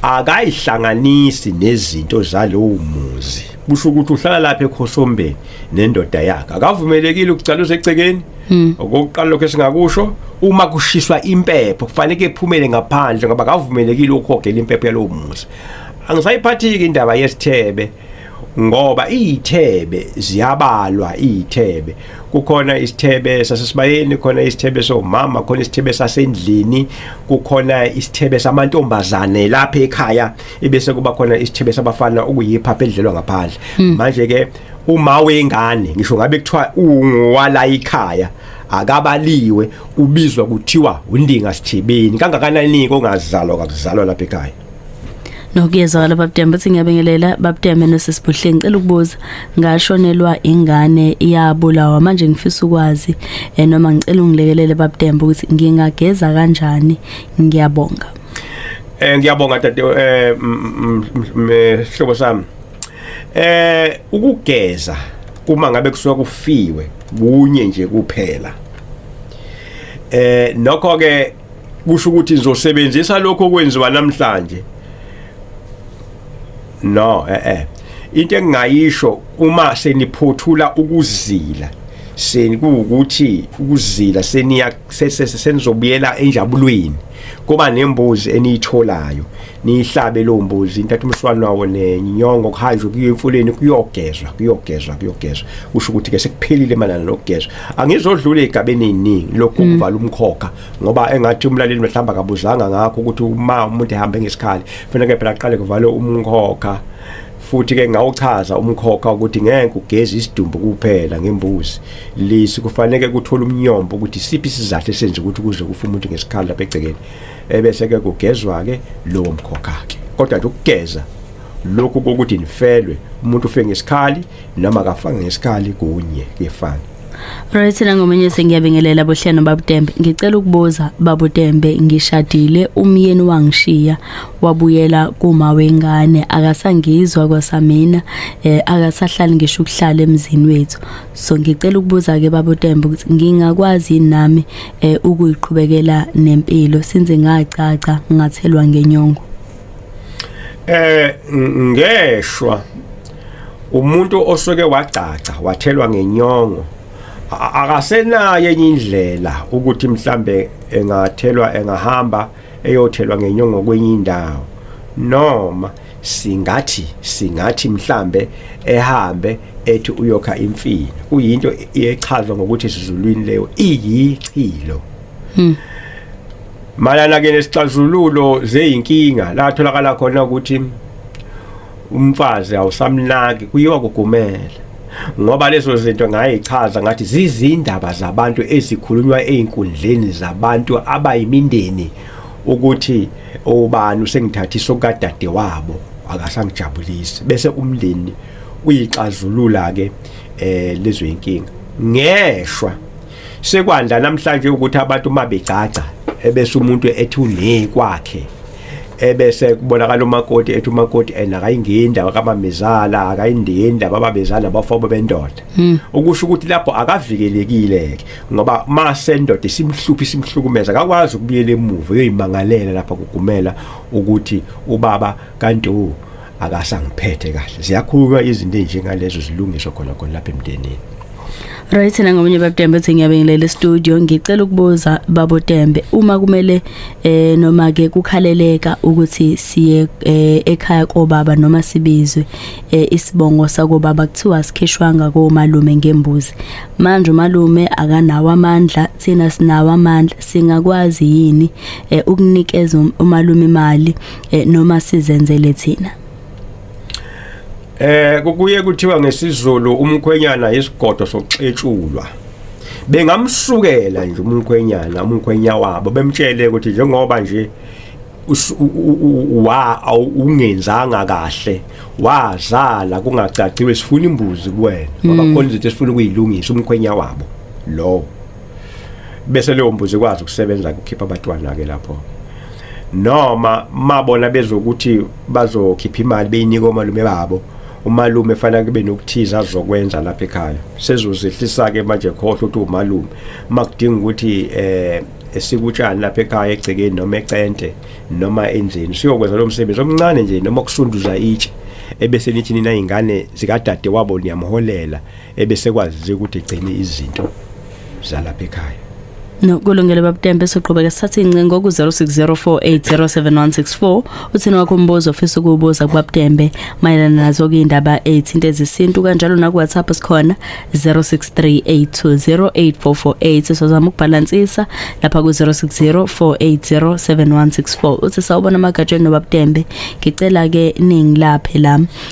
akayihlanganisi nezinto zalowo muzi kusho ukuthi uhlala lapha ekhosombeni nendoda yakhe akavumelekile ukucaluza egcekeni hmm. okokuqala lokho esingakusho uma kushiswa impepho kufanele ephume ngaphandle ngoba akavumelekile ukuhogela impepho yalowo muzi angisayiphathiki indaba yesithebe ngoba izithebe ziyabalwa izithebe kukhona isithebe sasesibayeni khona isithebe somama khona isithebe sasendlini kukhona isithebe samantombazane lapha ekhaya ebese kuba khona isithebe sabafana okuyiphapha edlelwa ngaphandle hmm. manje ke uma wengane ngisho ngabe kuthiwa ungowala ikhaya akabaliwe ubizwa kuthiwa undinga sithibeni kangakanani kongazalwa kakuzalwa lapha ekhaya nokuyezwakala babudembe uthi ngiyabingelela babudembe nosisibuhle ngicela ukubuza ngashonelwa ingane iyabulawa manje ngifisa ukwazi eh, noma ngicela ungilekelele babudembe ukuthi ngingageza kanjani ngiyabonga eh ngiyabonga dade eh mhlobo sami eh ukugeza uma ngabe kusuka kufiwe kunye nje kuphela eh nokho ke kusho ukuthi ngizosebenzisa lokho okwenziwa namhlanje no eh eh into engingayisho uma seniphothula ukuzila seni kuwukuthi ukuzila seniya senizobuyela enjabulweni kuba nembuzi eniyitholayo niyihlabe lo mbuzi intatha umswalo wawo nenyongo kuhanjwe kuyo emfuleni kuyogezwa kuyogezwa kuyogezwa kusho ukuthi ke sekuphelile malana nokugezwa angizodlula egabeni eziningi lokhu mm. kuvala umkhokha ngoba engathi umlaleli mhlawumbe akabuzanga ngakho ukuthi uma umuntu ehamba ngesikhali kufanele phela aqale kuvale umkhokha futhi ke ngawuchaza umkhokha ukuthi ngeke ugeze isidumbu kuphela ngembuzi lisi kufanele kuthola umnyombo ukuthi siphi isizathu esenza ukuthi kuze kufa umuntu ngesikhala lapha egcekeni ebese ke kugezwa ke lowo mkhokha ke kodwa nje ukugeza lokhu kokuthi nifelwe umuntu ufe ngesikhali noma akafange ngesikhali kunye kuyefana Right na ngomunye sengiyabingelela bohleno babutembe ngicela ukubuza babutembe ngishadile umyeni wangishiya wabuyela kuma wengane akasangizwa kwasamina eh, akasahlali ngisho ukuhlala emzini wethu so ngicela ukubuza ke babutembe ukuthi ngingakwazi nami eh, ukuyiqhubekela nempilo since ngacaca ngathelwa ngenyongo eh ngeshwa umuntu osuke wagcagca wathelwa ngenyongo akasenayo enye indlela ukuthi mhlambe engathelwa engahamba eyothelwa ngenyongo kwenye indawo noma singathi singathi mhlambe ehambe ethi uyokha imfini kuyinto echazwa ngokuthi sizulwini leyo iyichilo hmm. malana ke nesixazululo zeyinkinga la tholakala khona ukuthi umfazi awusamnaki kuyiwa kugumele ngoba lezo zinto ngayichaza ngathi zizindaba zabantu ezikhulunywa ezinkundleni zabantu abayimindeni ukuthi ubani usengithathisa okadade wabo akasangijabulisi bese umndeni uyixazulula ke eh lezo inkinga ngeshwa sekwanda namhlanje ukuthi abantu uma begcagca ebese umuntu ethi une kwakhe ebese kubonakala umakoti ethi umakoti ena akayingeni indaba kamamezala akayindeni indaba babezala bafabo bendoda hmm. ukusho ukuthi lapho akavikelekile ngoba mase indoda isimhluphi isimhlukumeza akakwazi ukubuyela emuva uyoyimangalela lapha kugumela ukuthi ubaba kanti u akasangiphethe kahle siyakhulunywa izinto enjengalezo zilungiswa khona khona lapha emndenini Right na ngomunye babutembe uthi ngiyabingelela studio ngicela ukubuza babutembe uma kumele eh noma ke kukhaleleka ukuthi siye eh, ekhaya kobaba noma sibizwe eh, isibongo sakobaba kuthiwa sikhishwanga komalume ngembuzi manje umalume akanawo amandla thina sinawo amandla singakwazi yini eh, ukunikeza um-, umalume imali eh, noma sizenzele thina eh kukuye kuthiwa ngesizulu umkhwenyana isigodo sokuxetshulwa bengamsukela nje umkhwenyana umkhwenya wabo bemtshele ukuthi njengoba nje wa ungenzanga kahle wazala kungacaciwe sifuna imbuzi kuwena ngoba mm. khona izinto esifuna ukuyilungisa umkhwenya wabo lowo bese leyo mbuzi ikwazi ukusebenza kukhipha abatwana ke lapho noma mabona bezokuthi bazokhipha imali beyinika omalume babo umalume fanele kube nokuthiza azokwenza lapha ekhaya sezozehlisa ke manje khohle ukuthi umalume makudinga ukuthi eh esikutshani lapha ekhaya egcekeni noma ecente noma endlini siyokwenza lo msebenzi omncane nje noma kusunduza itshe ebese nithi nina ingane zikadade wabo niyamholela ebesekwazi ukuthi igcine izinto zalapha ekhaya No kulungile babutembe soqhubeka sithatha incingo ku 0604807164 uthini wakho umbuzo ofisa ukubuza kubabutembe mayelana nazo ke indaba ezithinta ezisintu kanjalo na ku WhatsApp sikhona 0638208448 sozama ukubhalansisa lapha ku 0604807164 uthi sawubona magatshe nobabutembe ngicela ke ningi laphe la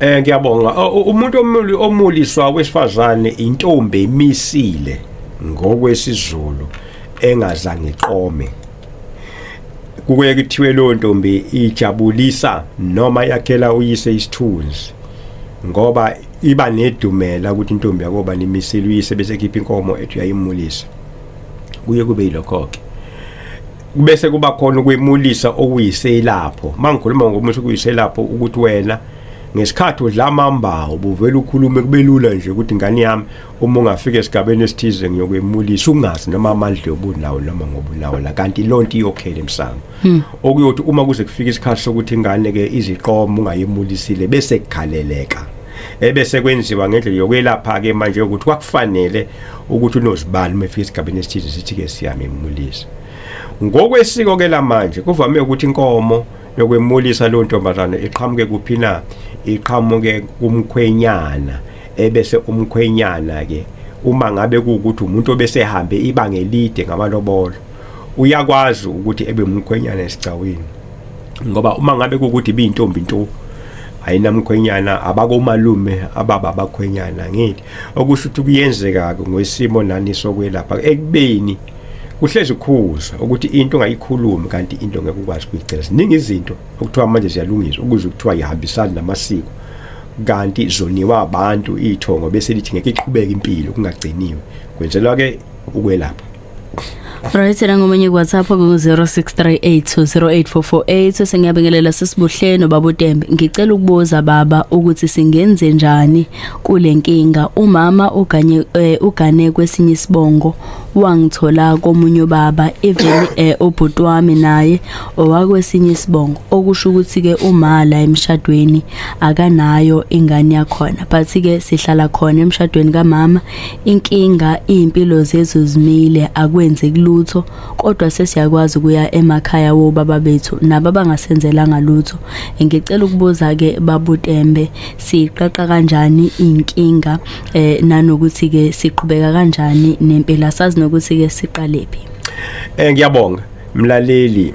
Eh ngiyabonga umuntu omuli omuliswa wesifazane intombi emisile ngokwesizulu engazange iqome kuke kuthiwe leyo ntombi ijabulisa noma yakhela uyise isithunzi ngoba iba nedumela ukuthi intombi yakoba nimisile uyise bese khipha inkomo ethi uyayimulisa kuye kube yilokho ke kubese kuba khona ukwemulisa okuyiselapho mangikhuluma ngomuthi okuyiselapho ukuthi wena ngesikhathi udla amamba ubuvela ukhulume kubelula nje ukuthi ngani yami uma ungafika esigabeni esithize ngiyokwemulisa ungazi noma amandla yobunawo noma ngobunawo la kanti lonto iyokhela emsango hmm. okuyothi uma kuze kufika isikhathi sokuthi ingane ke iziqomo ungayemulisile bese kukhaleleka ebese kwenziwa ngendlela yokwelapha ke manje ukuthi kwakufanele ukuthi unozibani uma efika esigabeni esithize sithi-ke siyamemulisa ngokwesiko-ke lamanje kuvame ukuthi inkomo yokwemulisa leyo ntombazane iqhamuke kuphi na iqhamuke kumkhwenyana ebese umkhwenyana-ke uma ngabe kuwukuthi umuntu obesehambe ibanga elide ngamalobolo uyakwazi ukuthi ebe umkhwenyana esigcawini ngoba uma ngabe kuwukuthi biyintombi nto ayinamkhwenyana abakomalume ababa abakhwenyana ngeli okusho ukuthi kuyenzeka-ke ngoisimo nani sokwelapha ekubeni kuhlezi kukhuzwa ukuthi into ungayikhulumi kanti into ngeke ukwazi ukuyigcina ziningi izinto okuthiwa manje ziyalungiswa ukuze kuthiwa yihambisani namasiko kanti zoniwa abantu iy'thongo bese lithi ngeke iqhubeke impilo kungagciniwe kwenzelwa-ke ukwelapha Right nangomunye kuWhatsApp ku-0638208448 sengiyabingelela sisibuhleni baba uTembe ngicela ukubuza baba ukuthi singenze njani kule nkinga umama uganye eh, ugane kwesinye isibongo wangithola komunye ubaba even eh, ubhuti wami naye owakwesinye isibongo okusho ukuthi ke umala emshadweni akanayo ingane yakhona but ke sihlala khona emshadweni kamama Inkinga izimpilo zethu zimile akwenzeki lutho kodwa sesiyakwazi ukuya emakhaya wobaba bethu nabo abangasenzelanga lutho. Ngicela ukubuza ke babuTembe siqaqa kanjani inkinga eh nanokuthi ke siqhubeka kanjani nempilo asazi nokuthi ke siqalephi. Eh ngiyabonga mlaleli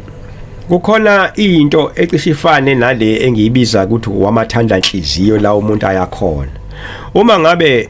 kukhona into ecishe ifane nale engiyibiza ukuthi wamathandla inhliziyo la umuntu ayakhona uma ngabe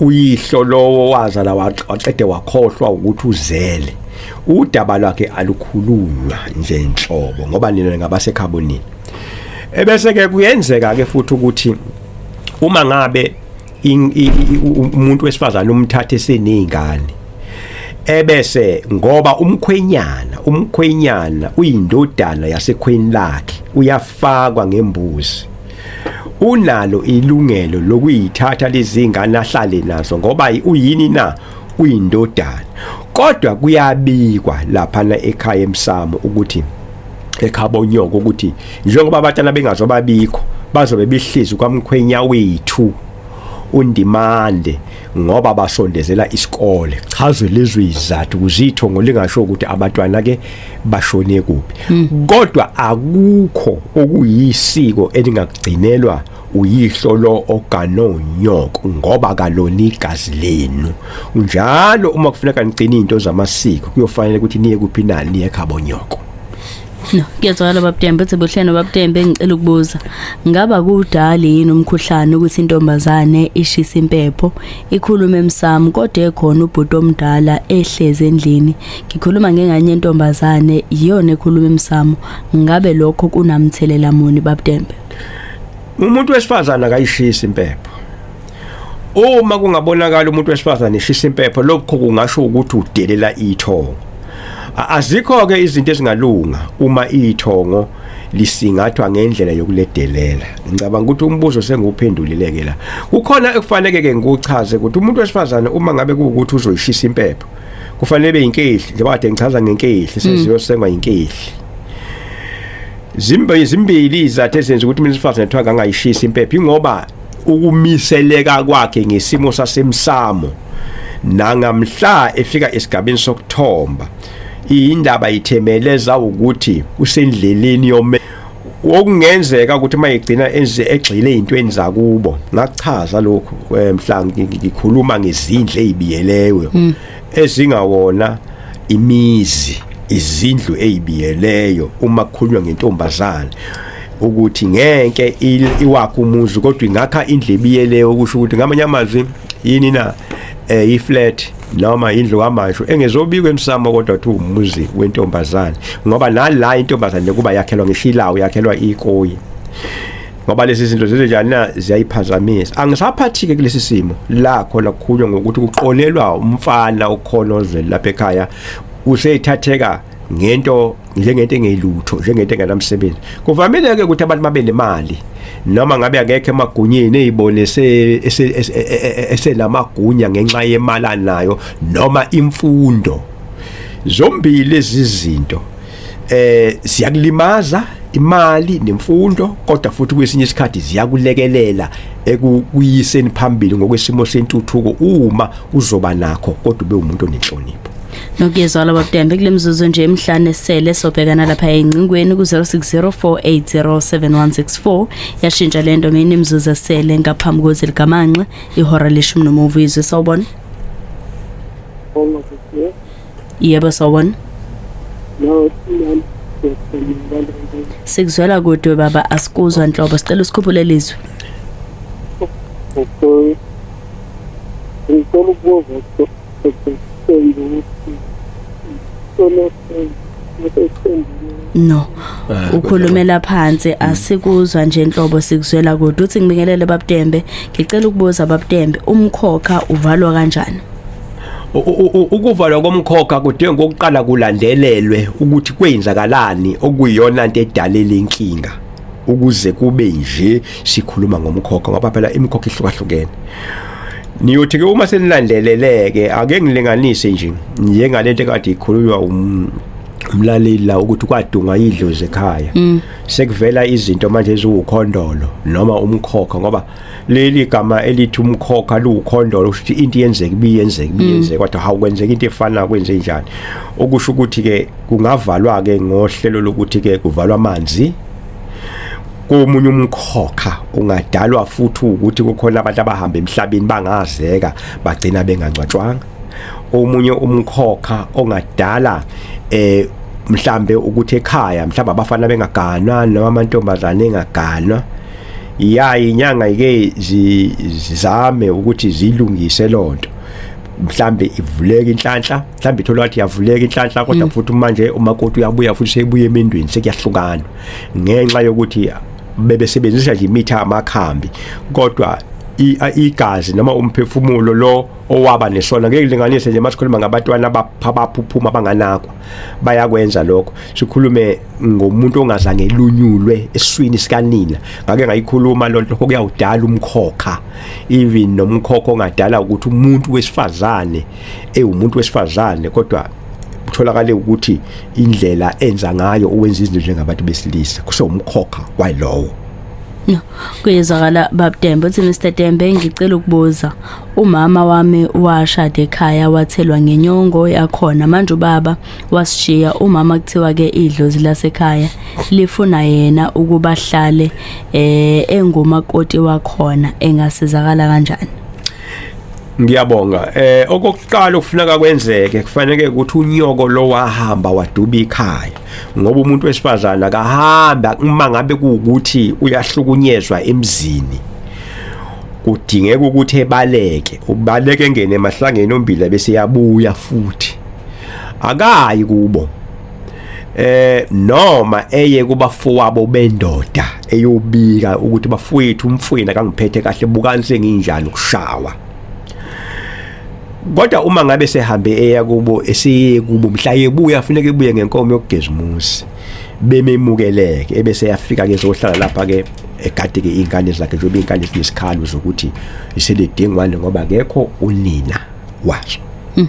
uyihlo lowo wazala waqede wakhohlwa ukuthi uzele udaba lwakhe alukhulunywa nje nhlobo ngoba nina ngabasekhabonini ebese ke kuyenzeka ke futhi ukuthi uma ngabe umuntu wesifazana umthathe seningane ebese ngoba umkhwenyana umkhwenyana uyindodana yasekhweni lakhe uyafakwa ngembuzi unalo ilungelo lokuyithatha lezingane ahlale nazo ngoba uyini na uyindodana kodwa kuyabikwa lapha na ekhaya emsamo ukuthi ekhabo nyoko ukuthi njengoba abatana bengazobabikho bazobe behlezi kwamkhwenya wethu undimande ngoba basondezela isikole chazo lezwe izathu kuzitho ngolingasho ukuthi abantwana ke bashone kuphi hmm. kodwa akukho okuyisiko elingagcinelwa uyihlo lo oganonyoko ngoba kaloni igazi lenu njalo uma kufuneka nigcina into zamasiko kuyofanele ukuthi niye kuphi nani niye khabonyoko No, kuyezwakala baba Tembe uthi buhleno baba Tembe ngicela ukubuza. Ngaba kudali yini umkhuhlane ukuthi intombazane ishisa impepho ikhulume emsamo kodwa ekhona ubhuti omdala ehleze endlini. Ngikhuluma ngenganye intombazane iyona ekhuluma emsamo. Ngabe lokho kunamthelela muni baba Tembe? Umuntu wesifazana akayishisi impepho. uma kungabonakala umuntu wesifazane eshisa impepho lokho kungasho ukuthi udelela ithongo azikho ke izinto ezingalunga uma ithongo lisingathwa ngendlela yokuledelela ngicabanga ukuthi umbuzo senguphendulileke la kukhona ekufaneke ke ngikuchaze ukuthi umuntu wesifazane uma ngabe kuwukuthi uzoyishisa impepho kufanele be inkehli njengoba kade ngichaza ngenkehli sesiyosengwa mm. inkehli zimbe zimbili izathu ezenza ukuthi mina sifazane kuthiwa ngangayishisa impepho ingoba ukumiseleka kwakhe ngesimo sasemsamo nangamhla efika esigabeni sokuthomba indaba ithemeleza ukuthi usendleleni yome okungenzeka ukuthi uma egcina enze egxile ezintweni zakubo ngachaza lokhu eh, mhla ngikhuluma ngezindle ezibiyelewe hmm. ezingawona imizi izindlu ezibiyeleyo uma kukhulunywa ngentombazane ukuthi ngeke iwakhe umuzi kodwa ingakha indlebi yeleyo okusho ukuthi ngamanye amazwi yini na eh iflat noma indlu kamasho engezobikwa emsamo kodwa kuthi umuzi wentombazane ngoba nala intombazane kuba yakhelwa ngeshilawo yakhelwa ikoyi ngoba lezi zinto zizenjani na ziyayiphazamisa angisaphathike kulesi simo la khona kukhulunywa ngokuthi kuqolelwa umfana okhona ozweni lapha ekhaya useyithatheka ngento njengento engelutho njengento enganamsebenzi kuvamile ke ukuthi abantu babe nemali noma ngabe akekho emagunyeni ezibone esenamagunya e, e, e, ngenxa yemali anayo noma imfundo zombili lezi zinto eh siyakulimaza imali nemfundo kodwa futhi kwesinye isikhathi ziyakulekelela ekuyiseni phambili ngokwesimo sentuthuko uma uzoba nakho kodwa ube umuntu onenhlonipho nokuyezwa laba butembe kule mzuzu nje emhlane esele sobhekana lapha engcingweni ku-0604807164 yashintsha le nto mina imizuzu esele ngaphambi kozi likamanxe ihora leshumi nomuva izwe sawubona yebo sawubona sikuzwela kude baba asikuzwa nhlobo sicela usikhuphule lizwi ngicela ukubuza no ah, ukhulumela phansi asikuzwa nje inhlobo sikuzwela kodwa uthi ngibingelele babutembe ngicela ukubuza babutembe umkhokha uvalwa kanjani ukuvalwa komkhokha kudinga ukuqala kulandelelwe ukuthi kwenzakalani okuyiyona into edalele inkinga ukuze kube nje sikhuluma ngomkhokha ngoba phela imikhokha ihlukahlukene niyothi ke uma senilandeleleke ake ngilinganise nje njengalento ekade ikhulunywa um umlaleli la ukuthi kwadunga idlozi ekhaya mm. sekuvela izinto manje eziwukhondolo noma umkhokha ngoba leli gama elithi umkhokha liwukhondolo ukuthi into yenzeka ibiyenzeka mm. ibiyenzeka kodwa hawu kwenzeka into efana kwenze njani okusho ukuthi ke kungavalwa ke ngohlelo lokuthi ke kuvalwa amanzi komunye umkhokha ungadalwa futhi ukuthi kukhona abantu abahamba emhlabeni bangazeka bagcina bengangcwatshwanga omunye umkhokha ongadala eh mhlambe ukuthi ekhaya mhlawumbe abafana bengaganwa noma amantombazane engaganwa ya inyanga ike zizame ukuthi zilungise lonto mhlambe ivuleke inhlanhla mhlawumbe ithola wathi yavuleka inhlanhla kodwa mm. futhi manje umakoti uyabuya futhi sebuye emendweni sekuyahlukana ngenxa yokuthi bebesebenzisa nje imithi amakhambi kodwa igazi noma umphefumulo lo owaba nesona ngeke linganise nje masikhuluma ngabatwana abaphuphuma abanganakwa bayakwenza lokho sikhulume ngomuntu ongazange lunyulwe eswini sikanina ngake ngayikhuluma lonto kuyawudala umkhokha even nomkhokha ongadala ukuthi umuntu wesifazane ewumuntu wesifazane kodwa kutholakale ukuthi indlela enza ngayo owenza izinto njengabantu besilisa kusewumkhokha walowo No. Kuyezwakala babDembe uthi Mr Dembe ngicela ukubuza. Umama wami washada ekhaya wathelwa ngenyongo yakhona manje ubaba wasishiya umama kuthiwa ke idlozi lasekhaya lifuna yena ukuba hlale eh engumakoti wakhona engasizakala kanjani. ngiyabonga eh okokuqala okufuneka kwenzeke kufanele ukuthi unyoko lo wahamba waduba ikhaya ngoba umuntu wesifazana akahamba uma ngabe kuukuthi uyahlukunyezwa emzini kudingeka ukuthi ebaleke ubaleke engene emahlangeni ombila bese yabuya futhi akayi kubo eh noma eye kubafowabo bendoda eyobika ukuthi bafowethu umfwena kangiphethe kahle bukani senginjani ukushawa kodwa uma ngabe sehambe eya kubo esiye kubo mhla yebuya afuneka ebuye ngenkomo yokugeza umuzi bememukeleke ebese yafika ke zohlala lapha ke egade ke ingane zakhe njengoba ingane zinesikhalu zokuthi iselidingwane ngoba kekho unina washo hmm.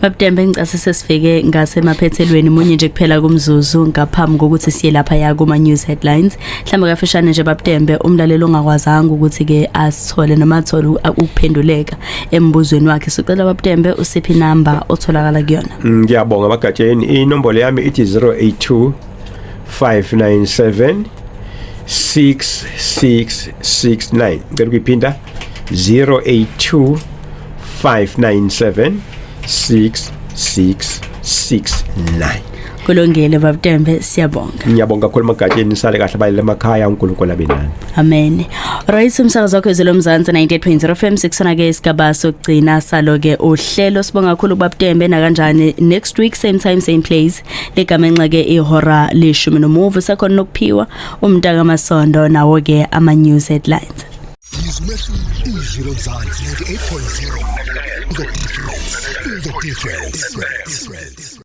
Babudembe ngicase sesifike ngasemaphethelweni munye nje kuphela kumzuzu ngaphambi kokuthi siye lapha ya kuma news headlines mhlamba kafishane nje babudembe umlalelo ongakwazanga ukuthi ke asithole noma athole ukuphenduleka embuzweni wakhe sicela babudembe usiphi number otholakala kuyona mm, ngiyabonga bagatsheni inombolo yami ithi 082 597 6669 ngicela ukuyiphinda 082 597 6669 kulungile babudembe siyabonga ngiyabonga kakhulu magatsheni nisale kahle balele emakhaya uNkulunkulu abe nani amen right umsakazo wakho ezelo mzansi 98.0 FM sikusona ke isigaba sokugcina salo ke uhlelo sibonga kakhulu kubabudembe na kanjani next week same time same place legama enxa ke ihora leshumi nomuvu sakhona nokuphiwa umntaka masondo nawo ke ama news headlines izwi umehluko izwi lomzansi 98.0 the difference the difference